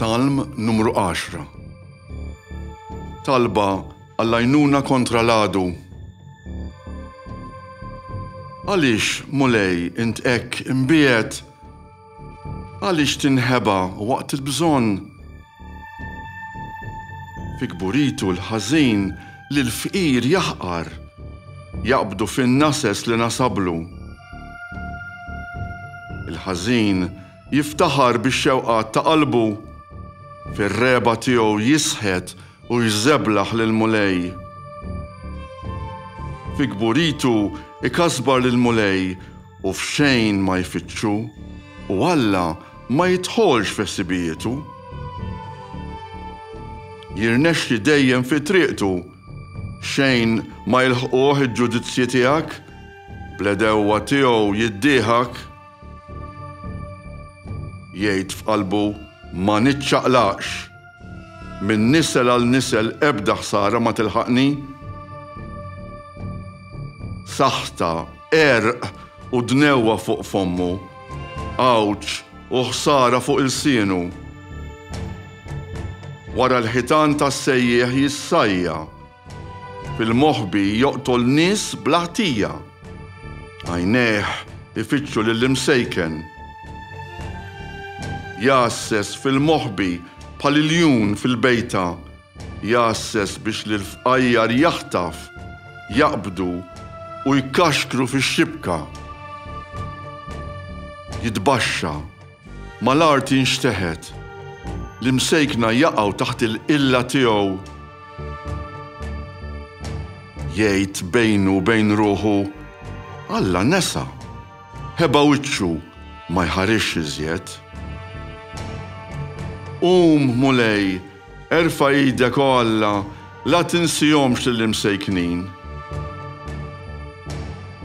Salm numru 10 Talba għall-għajnuna kontra l-għadu. Għaliex, Mulej, int hekk imbiegħed? Għaliex tinħeba waqt il-bżonn? Fi kburitu l-ħażin li l-fqir jaħqar, jaqbdu fin-nases li nasablu. Il-ħażin jiftaħar bix-xewqat ta' qalbu, fir-regħba tiegħu jisħet u jżeblaħ lill-Mulej. Fi kburitu ikasbar lill-Mulej u f'xejn ma jfittxu, u Alla ma jidħolx f'ħsibijietu. Jirnexxi dejjem fi triqtu, xejn ma jilħquh il-ġudizzji tiegħek, bl-għedewwa tiegħu jiddieħak. Jgħid f'qalbu, Ma niċċaqlaqx! Minn nisel għal nisel ebda ħsara ma tilħaqni. Saħta, għerq u dnewwa fuq fommu. Għawġ u ħsara fuq ilsienu. Wara l-ħitan tas-sejjieħ jissajja. Fil-moħbi joqtol nies bla ħtija. Għajnejh ifittxu lill-imsejken. Jgħasses fil-moħbi bħal iljun fil-bejta, jgħasses biex lill-fqajjar jaħtaf, jaqbdu u jkaxkru fix-xibka. Jitbaxxa. Mal-art jinxteħet. L-imsejkna jaqgħu taħt il-qilla tiegħu. Jgħid bejnu u bejn ruħu, Alla nesa, ħeba wiċċu, ma jħarisx iżjed. Qum, Mulej, Erfa' idek, o Alla, la tinsihomx lill-imsejknin.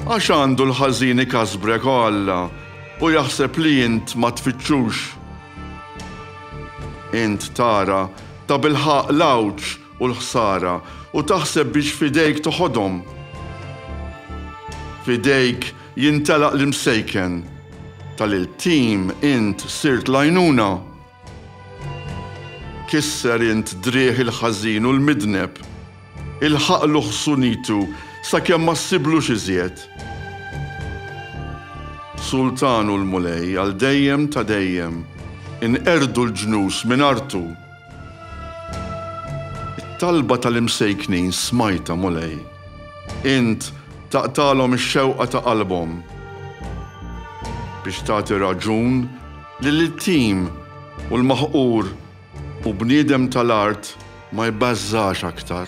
Għax għandu l-ħażin ikasbrek, o Alla, u jaħseb li int ma tfittxux. Int tara, tabilħaqq, l-għawġ u l-ħsara, u taħseb biex f'idejk toħodhom. F'idejk jintelaq l-imsejken. Ta' lil tim int sirt l-għajnuna. Kisser int driegħ il-ħażin u l-midneb, ilħaqlu ħsunitu sakemm ma ssiblux iżjed. Sultan hu l-Mulej għal dejjem ta' dejjem, inqerdu l-ġnus minn artu. It-talba tal-imsejknin smajtha, Mulej, int taqtagħlhom ix-xewqa ta' qalbhom, biex tagħti raġun Li l-iltim u l-maħqur u bniedem tal-art ma jbażżax aktar.